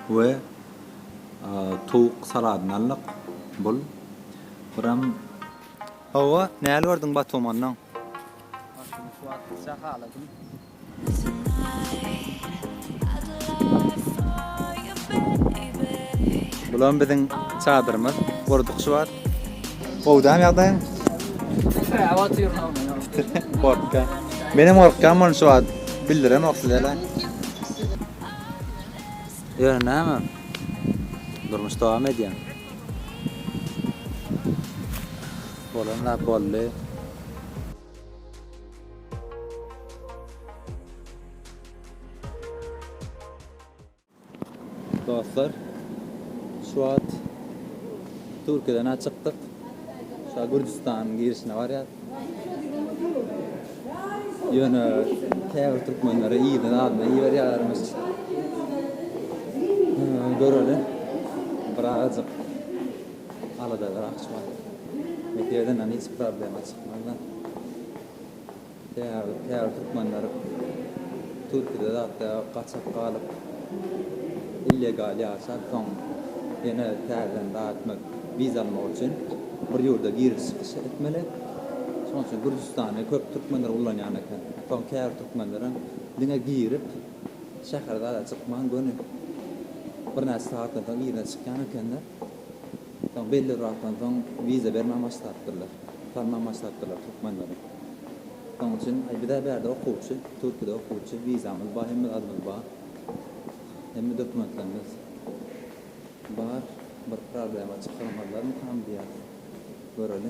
we towuk saladyny aldyk. Bul buram. Hawa, näl gördüň Batumandan? Başymy şu wagt biçak haladym. Bulam biziň çadyrymyz gurduk şu wagt. Gowy däl ýagdaýyň? Gorkýan. Menem gorkýan muny şu wagt. Bildiremok sizele. Ýöne näme? Durmuş dowam edýär. Bolan zat boldy. Dostlar, şu wagt Türkiýeden ha çykdyk. Şu wagt Gürjüstanyň girişine barýas. Ýöne käbir türkmenlere yzyna zadyna iberýärmiş. Göreli. Birazajyk alada berakçy bar. Meseleden hiç problema çykmaz-da. Däbi täbi türkmenler türkide zatda gaçak galyp illegal ýaşap soň ýene täzeden zat etmek wiza almak üçin bir ýurda giriş çykyş etmeli şoň üçin gürjüstany köp türkmenler ulanýan eken soň käbir türkmenlerem diňe girip şähere zada çykman göni birnäçe sagatdan soň yzyna çykýan ekenler. Soň belli bir wagtdan soň wiza bermän başlapdyrlar. Salman başlapdyrlar türkmenlere. Şonuň üçin aý bizä bärde okuwçy, türkide okuwçy, wizamyz bar, hemme zadymyz bar. Hemme dokumentlerimiz bar. Bir problema çykarmazlarmykam diýýäs. Göreli.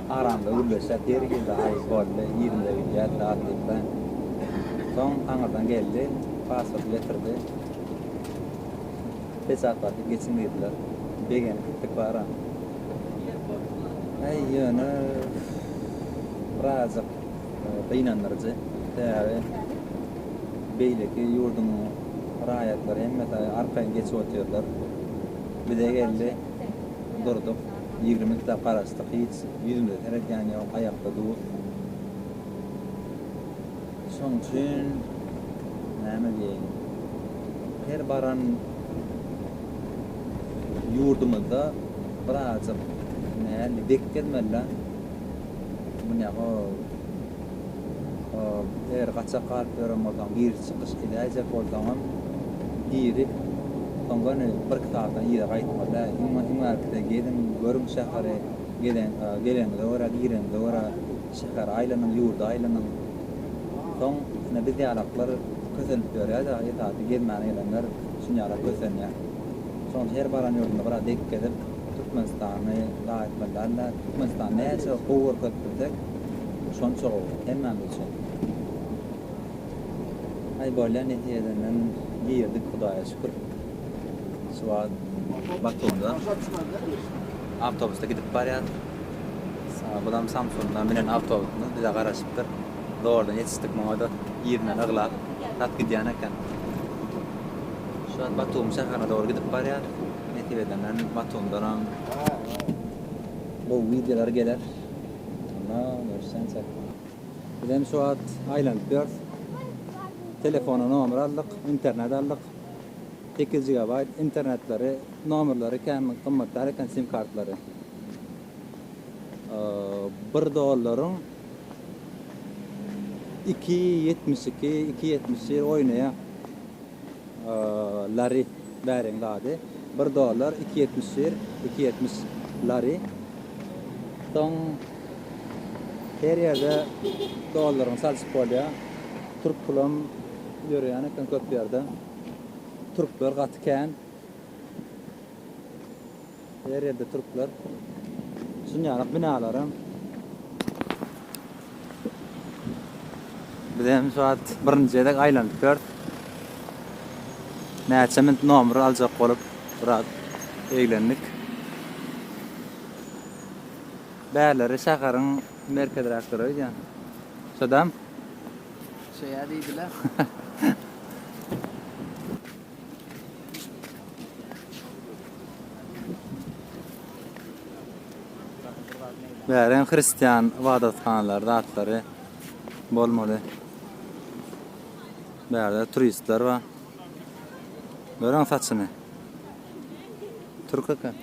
Aramda gürleşjek ýeri girdi, Aý, boldy, ýerimize gidýäs, zat diýipler. Soň aňyrdan geldi, pasporty getirdi. Peçatladyp geçiň diýdiler. Begenip gitdik bara. Aý, ýöne birazajyk gynandyryjy. Sebäbi beýleki ýurduň raýatlary hemmesi arkaýyn geçip otyrlar. Bize geldi, durduk. Ýigrimi kitap garaşdyk, hiç ýüzümize seredýän ýok, aýakda duz. Şoň üçin näme diýeýin, her baran ýurdumyzda birazajyk nähili bekgezmeli-dä. Mundýa-ha Eger gaçak galyp ýören bolsaň, giriş-çykyş edäýjek bolsaňam, girip, soň göni birki sagatdan yza gaýtma dä. Iň bärkisi geziň, görüň şäheri, geleniňize görä, gireniňize görä şäheri aýlanyň, ýurdy aýlanyň. Soň, ine, biz ýalaklar kösenip ýörýär-de, esasy gezmäne gelenler şunýalak kösenýär. Şonuň üçin her baran ýurdunda biraz dek gezip, Türkmenistany zaý etmeli däl-de. Türkmenistany näçe gowy görkezip bilsek, Şonça gowy, hemmämiz üçin. Aý bolýa netijesenden girdik hudaýa şükür. Şu wagt Batumda awtobusda gidip barýas. Bulam Samsundan münen awtobusymyz bize garaşypdyr. Zordan ýetişdik muňada yzyndan yglap zat gidýän eken. Şu wagt Batum şäherine dogry gidip barýas. Netijesenden Batumdanam gowy wideolar geler. Ana, görsen sen. Biz hem şu wagt aýlanyp ýörüs. Telefona nomer aldyk, internet aldyk. Sekiz gigabaýt internetleri, nomerleri kän gymmatdar eken sim kartlary. Bir dollaryň iki ýetmiş iki, iki ýetmiş bir oýnaýar. Lary bäriň zady. Bir dollar iki ýetmiş bir iki ýetmiş lary. Soň her ýerde dollaryň çalşyp bolýa. Türk pulam ýöreýän eken köp ýerde. Türkler gaty kän. Her ýerde türkler. Şunýalak binalaram. Biz hem şu wagt birinji gezek aýlanyp ýörüs. Näçe minut nomer aljak bolup biraz eglendik. Bärleri şäheriň merkeziräk durar öýdýän. Şodam? Şeýä diýdiler. Bäreň hristian ybadathanalary zatlary bolmaly. Bärde turistler bar. Görüň saçyny. Türk eken.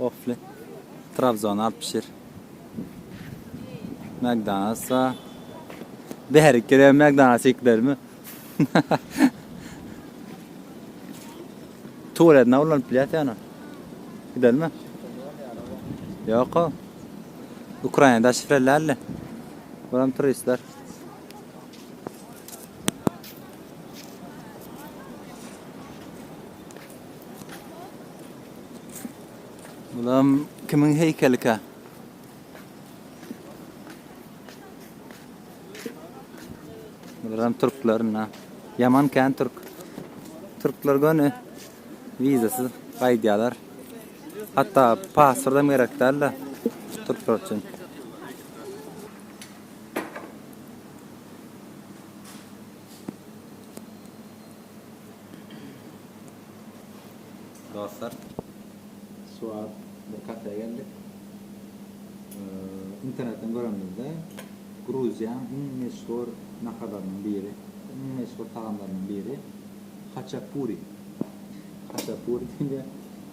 Ofli. Trabzon alyp pişir. McDonald's bar. Bäri kire McDonald's iklermi? Tuwalet na ulanyp bilýär sen ony. Gidelmi? Ýok-a. Ukrainada şifrelärli. Buram turistler. Bulam kimin heýkelika? Bular hem türklerin ha. Yaman kän türk. Türkler göni vizasız gaýdýarlar. Hatda pasport hem gerek däl-de türkler üçin. Dostlar, şu wagt bir kafä geldik. Internetden görenimizde Gruziýanyň iň meşhur naharlarynyň biri, iň meşhur tagamlarynyň biri haçapuri. Haçapuri diýilýär.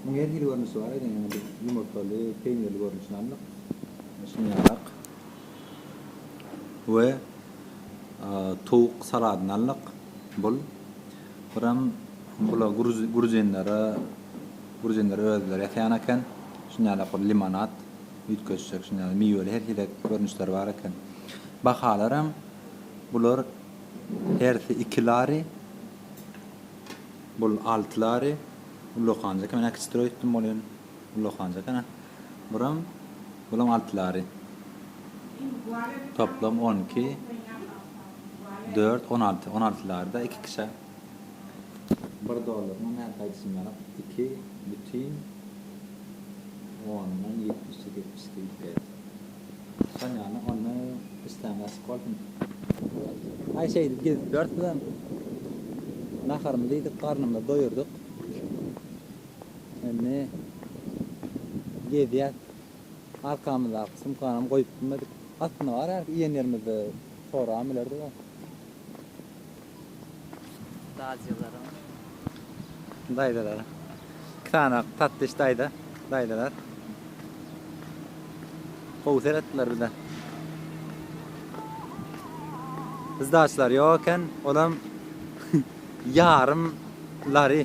Munuň her hili görnüşi bar eken, ýöne biz ýumurtgaly, peýnirli görnüşini aldyk. Şunyarrak. We towuk saladyny aldyk. Bul. Buram bula gruzinlere, gruzinler özleri ýasýan eken. Şunýalak bir limonad, üýtgeşjek şunýaly miweli her hili görnüşleri bar eken. Bahalaram bular hersi iki lari, bul alty lari, ullakan eken, men äkiçdirek öýtdüm bolýan. Ullakan jakan-a. Buram, bulaň altylary. Toplam on iki, dört, on alty. On altylary-da iki kişä. Bir dollarynyň nädip aýdyşyny ýalam. Iki bütin ondan ýetmiş ýedi, ýetmiş iki gidip gelýär. Şol ýaly onda işläň açyk bolsun. Aý şeýdip gezip ýörüs bizem. Naharymyzy iýdik, garnymyzy doýurdyk. Indi gezýäs. Arkamyzdaky sumkanam goýup bilmedik. Aslynda bar ýaly iýen ýerimizde sorabam bilerdik a. Daýzalaryň. Daýzalar. Iki sany tatlış daýza, daýzalar. Gowy seretdiler bize. Sdaçlar ýok eken, olam ýarym lari.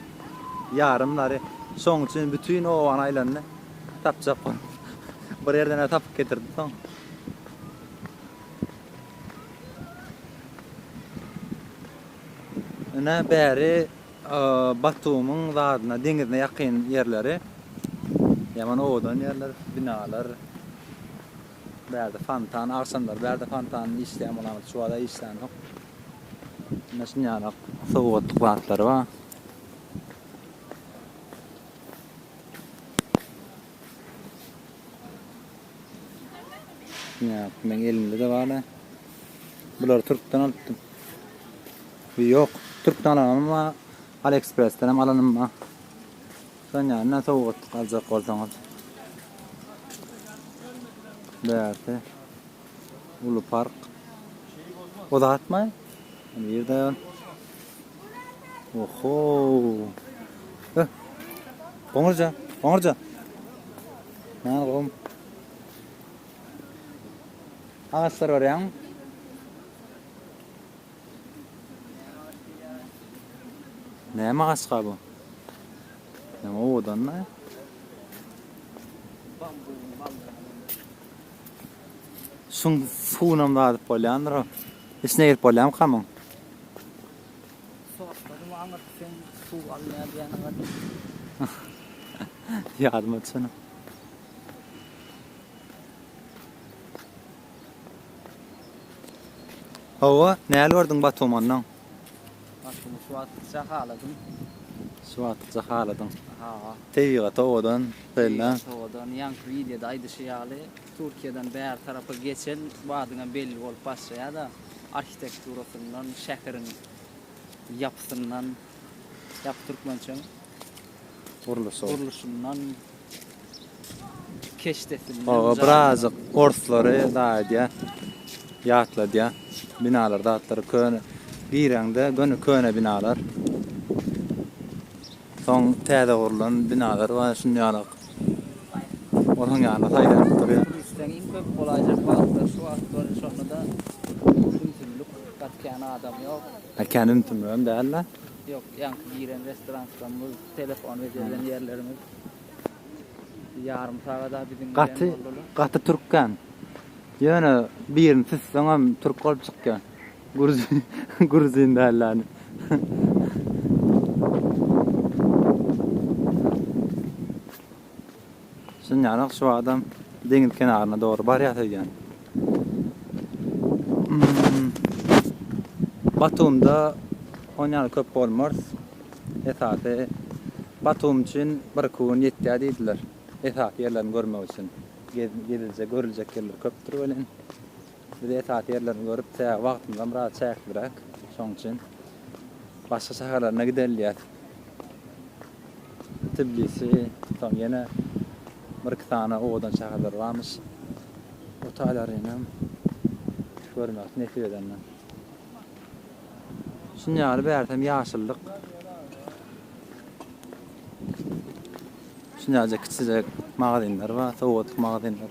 Ýarymlary şoň üçin bütin obany aýlandy. Tapjak bolup. Bir ýerden-ä tapyp getirdi soň. Ine, bäri Batumyň zadyna, deňizine ýakyn ýerleri. Ýaman owadan ýerler, binalar. Bärde fontan, agşamlary bärde fontan işleýän bolamyş, şu wagt-a işlänok. Ine şunýaly sowgatlyk zatlary bar. Ýap, meň elimde-de bar-a. Bulary türkden alypdym. Ýok, türkden alanym bar, AliExpress-den hem alanym bar. Şunýaly näme sowgatlyk aljak bolsaňyz. Bärsi. uly park. O zatmy? Bu ýerde Oho. Eh. Goňurja, goňurja. Näme gom? Agaçlar görýäňmi? Näme agaçka bu? Näme owadanmy? Şuň suwunam dadyp bolýandyr o. Içine girip bolýamykamyň? Sortladymy aňyrt sen suw alynýar diýýän gaty. Ýadyma düşenok. Hawa, näl gördüň Batumandan? Başymy suwatykça haladym. Suwatykça haladyň. Ha. Tebigat owadan, belläň. Tebigat owadan. Ýaňky wideoda aýdyşy ýaly, Türkiýeden bäri tarapa geçen badyňam belli bolup başlaýar-da, arhitekturasyndan, şäheriň ýapysyndan, ýapy türkmençemi? Gurluşy. Gurluşyndan. Oba birazjyk orslary dagy edýär. Ýatladýar. Binalar zatlary köne. Gireňde göni köne binalar. Soň täze gurlan binalar bar şuny ýalak. Olaryň ýanyna saýlanyp durýar. Turistleň iň köp bolaýjak wagtlary şu wagtlar şonda-da ümsümlik gatýan adam ýok. Ýa kän ümsümligem däl-de. Ýok ýaňky giren restoran Stambul. Telefon we gezen ýerlerimiz ýarym sagada biziň bilen Gaty, boldular. gaty türkkäm. Ýöne birini süsseňem türk bolup çykýar. Gruzin, gruzin dälläni. Synýanok şu adam deňiz kenaryna dogry barýas öýdýän. Batumda on ýaly köp bolmars. Esasy Batum üçin bir iki gün ýetýär diýdiler. Esasy ýerlerini görmek üçin. Geziljek, görüljek ýerler köpdür welin. Biz esasy ýerlerini görüp, çäge wagtymyzam biraz çäkliräk. Şonuň üçin başga şäherlerine gidelýäs. Tbilisi, soň ýene bir-iki sany owadan şäherler barmyş. O taýlarynam görmek nesip edende. Şuny ýaly bärsem ýaşyllyk. Şuny ýaly kiçijek magazynlar bar, sowgatlyk magazynlar.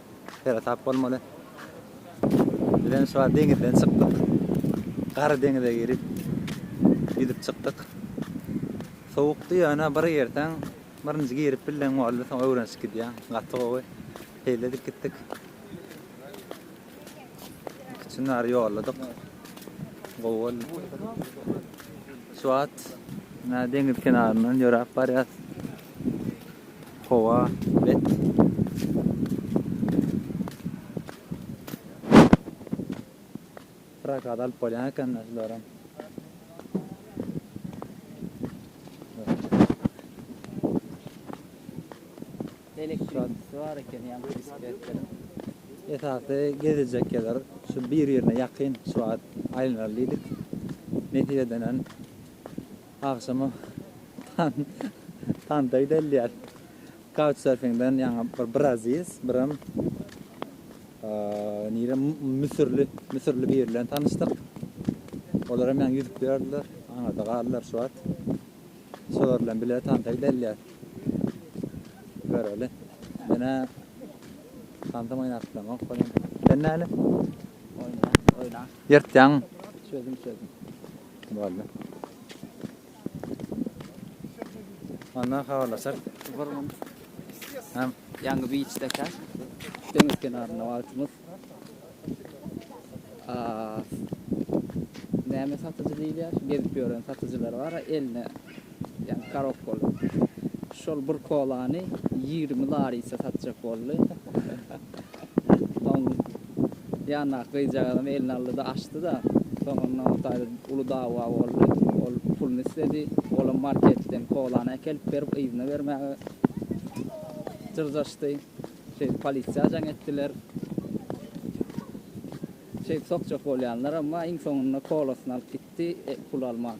Sere tap bolmaly. Bizem şu an deňizden çykdyk. Gara deňize girip ýüzüp çykdyk. Sowukdy ýöne bir girseň, birinji girip bildiň boldy, soň öwrenişip gidýäň. Gaty gowy. Peýledik gitdik. Üçünler ýolladyk. Gowy boldy. Şu wagt deňiz kenaryndan ýöräp barýas. Howa bet. Prokat alyp bolýan ekende şularym. Elektrikçisi bar eken ýa bisikletleri. Esasy gezejek ýerler şu bir-birine ýakyn şu wagt aýlanaly diýdik. Nesip edenen Agşama tanta gidelýär. Couchsurfingden ýaňa bir brazis, birem nirem müsürli, müsürli biri bilen tanyşdyk. Olar hem ýaňy ýüzüp ýördiler, aňyrda galdylar şu wagt. Şolar bilen bile tanta gidelýär. Göreli. Menä tantam oýnap bilemok bolýar. Sen näle? Oýna, oýna. Ýyrtýaň. Çözüm, çözüm. Boldy. Ondan habarlaşar. Gurgun. Hem. Ýaňy biç deka. Deňiz kenarynda wagtymyz. Aaa. Näme satyjy diýilýär? Gezip ýören satyjylar bar, eline Ýa garok boldy. Şol bir kolany ýigrimi larisa satjak boldy. Soň ýandaky gyzjagazam eline aldy-da, açdy-da, soň ondan bir taýda uly dawa boldy. Ol puluny isledi. Olam marketden kolany äkelip berip, yzyna bermäge jyrjaşdy. Şeýdip polisiýa jaň etdiler. Şeýdip sokjak bolýanlar, emma iň soňunda kolasyny alyp gitdi, pul alman.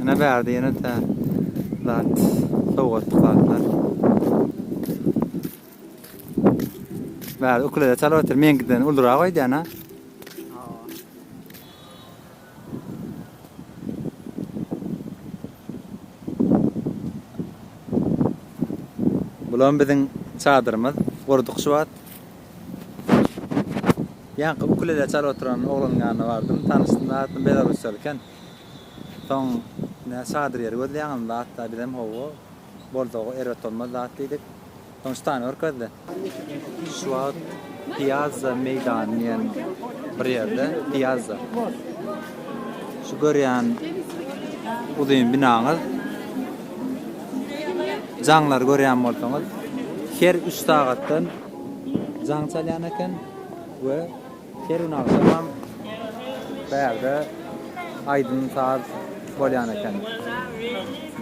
Ýene bärde ýene tä zat, sowgatly zatlar. Bärde ukulele çalyp otyr, meňkiden ulurak öýdýän ha. Bulam biziň çadyrymyz gurduk şu wagt. Ýaňky ukulele çalyp oturan oglanyň ýanyna bardym. Tanyşdym, aslynda belarusýaly eken. Soň, Näme çadyr ýeri gözleýäňizmi, batda? Bizem, Hawa, bolsa-a erbet bolmaz zat diýdik. Soň şytany görkezdi. Şu wagt Piazza meýdany diýen bir ýerde, Piazza. Şu görýän uzyn binaňyz, jaňlary görýän bolsaňyz, her üç sagatdan jaň çalýan eken we her gün agşamam bärde aýdym-saz bolýan eken,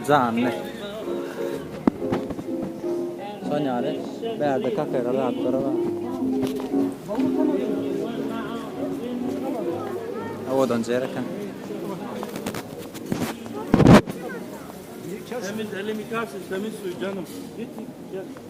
janly. Şol ýaly bärde kafeler zatlary bar. Owadanjy ýer eken. Temiz, elini ýykarsyn, temiz suw, janym. Git, git, gel.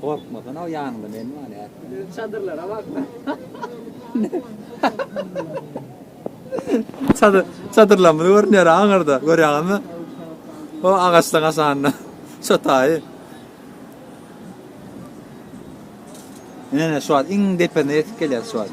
Gorkmadan al ýanyňda men bar ýa. Biziň çadyrlara bak. Çadyr, çadyrlarymyz görünýär aňyrda. Görýäňizmi? O agaçda gaşanda. Şu taýy. Ne ne şu wagt iň depesine ýetip gelýär şu wagt.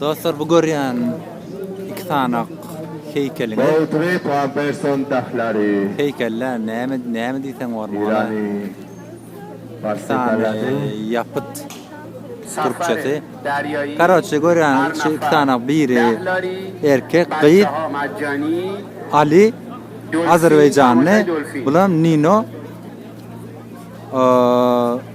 Dostlar bu görýän iki sany heýkeliňiz. Beaudry Pamperson dahlary. Heýkellä näme näme diýseň bormy? Ýerany parçaladyň. Ýapyt. Türkçesi. Karoçe görýän iki sany biri erkek gyz. Ali Azerbaýjanly, bulam Nino. Eee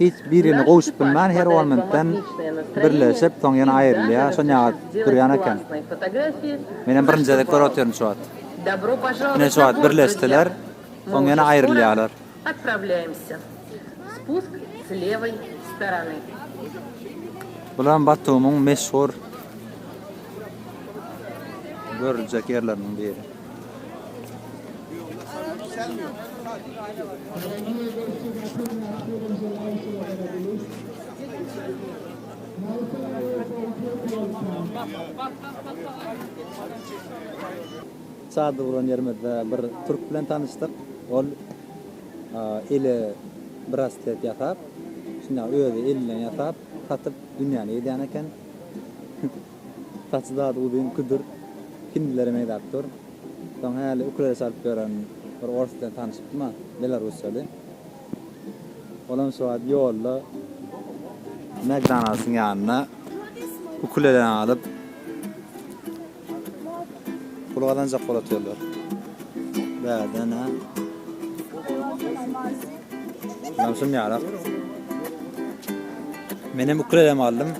Hiç birini gowşup bilmän her on minutdan birleşip soň ýene aýrylýar şonýaly durýan eken. Menem birinji gezek görüp otyryn şu wagt. Ine şu wagt birleşdiler soň ýene aýrylýarlar. Bulam Batumyň meşhur görüljek ýerleriniň biri. Çadyr guran ýerimizde bir türk bilen tanyşdyk. Ol eli braslet ýasap, şunda özi elinden ýasap, satyp dünýäni gezýän eken. Saçy zady uzyn, küdür, hindlere meýläp dur. Soň häli ukulele çalyp ýören bir orus bilen tanyşypdym-a, belarusçady. Olam şu wagt ýolda McDonald's-yň ýanynda ukuleleni alyp, pul gazanjak bolup otyrlar. Bärden-ä. Olam şuny ýaly. Menem ukulelemi aldym.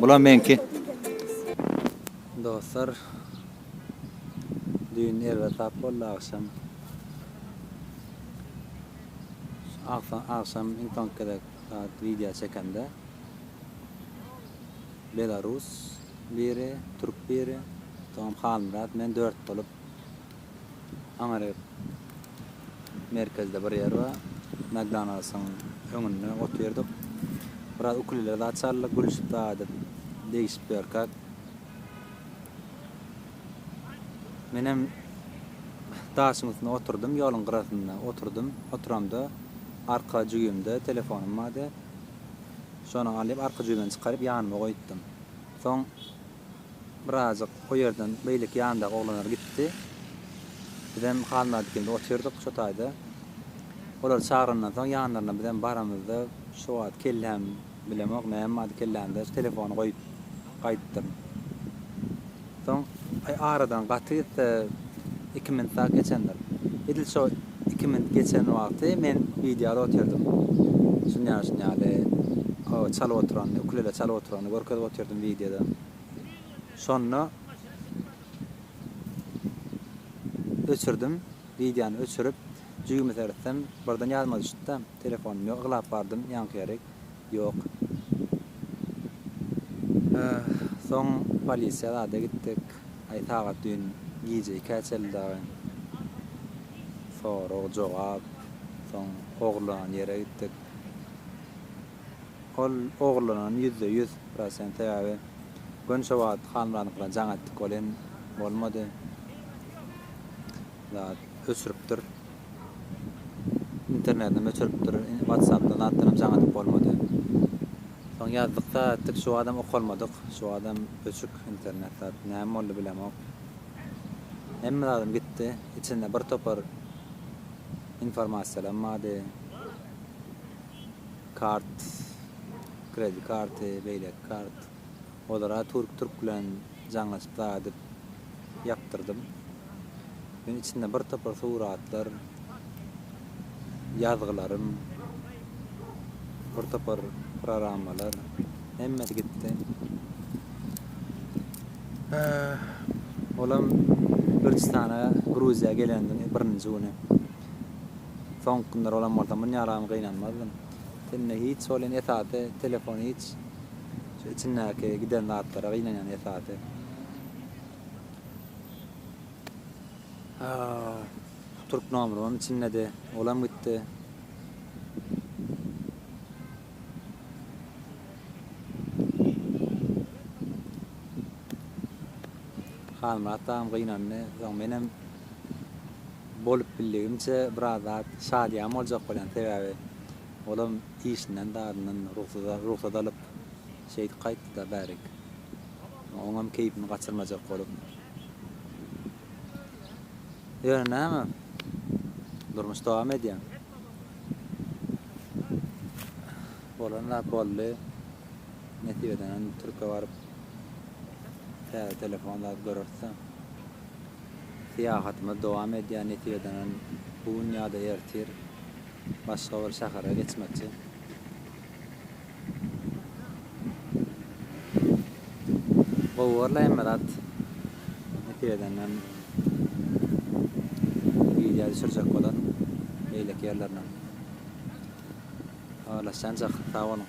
Bulam meňki. Dostlar düýn erbetap boldy agşam. Agsa agşam iň soňky gezek sagat wideo çekende belarus biri, türk biri, soňam Halmyrat, men dört bolup Aňryk merkezde bir ýer bar. McDonald's-yň öňünde otyrdyk. Biraz ukylylar zat çaldyk, gülüşip zat edip, degişip ýörkäk, menem daşyň üstüne oturdym, ýoluň gyrasynda oturdym. Oturamda arka jübimde telefonym bardy. Şony alyp, arka jübimden çykaryp, ýanyma goýupdym. Soň. Birazajyk o ýerden beýleki ýandaky oglanlar gitdi. Bizem Halmyrat ikimiz otyrdyk şo taýda. Olar çagrandan soň ýanlaryna bizem baramyzda şo wagt kelläm bilemok näme bardy kellämde şu telefony goýup gaýdypdyryn. Soň aradan gaty gitse iki minut-a geçendir. Edil şo Iki minut geçen wagty men wideoda otyrdym. Şunýaly şunýaly o çalyp oturany, ukulele çalyp oturany görkezip otyrdym wideoda. Şonda öçürdim. Wideony öçürip, jübimi seretsem, birden ýadyma düşdi-de, telefonum ýok, yglap bardym ýaňky ýerik. Ýok. Öh, soň polisiýa zada gitdik. Aý sagat düýn gije ikä çeldi dagy. Sorag, jogap. Soň ogurlanan ýere gitdik. Ol ogurlanan ýüzde ýüz prosent sebäbi göni şo wagt Halmyradyňkyna jaň etdik ol hem bolmady. Zat öçüripdir. Internetinem öçüripdir, Whatsappda zatdanam jaň atyp bolmady. Soň ýazdykda etdik, şu badam okalmadyk, şu badam öçük internet zat, näme boldy bilemok. Hemme zadym gitdi, içinde bir topar informasiýalam bardy. Kart, kredi karty, beýleki kart. Olara türk türk bilen jaňlaşyp zaa edip ýapdyrdym. Men içinde bir topar suratlar, ýazgylarym, bir topar prorammalar hemmesi gitdi. Olam Gürjüstana, Gruziýa gelendiň birinji güni. Soňky günler olam bolsa munýalagam gynanmazdym. Tende hiç bolýan esasy telefon hiç şu içindäki giden zatlara gynanýan esasy. Türk nomrym içindedi olam gitdi. Halmyrat dagam gynandy soň menem Bolup bildigimçe biraz zat şadyýan boljak bolýan sebäbi olam işinden zadyndan rugsat alyp şeýdip gaýtdyda bärik oňam keýpini gaçyrmajak bolup ýöne näme durmuş dowam edýär bolan zat boldy nesip edenem türke baryp täze telefon zat görerisda. Syýahatymyz dowam edýär, netijadan bu gün ýa-da ertir başga bir şähere geçmekçi. Gowy görläýen bir at. Netijadan hem wideo düşürjek bolaryn beýleki ýerlerinem. Habarlaşýançak, sag boluň!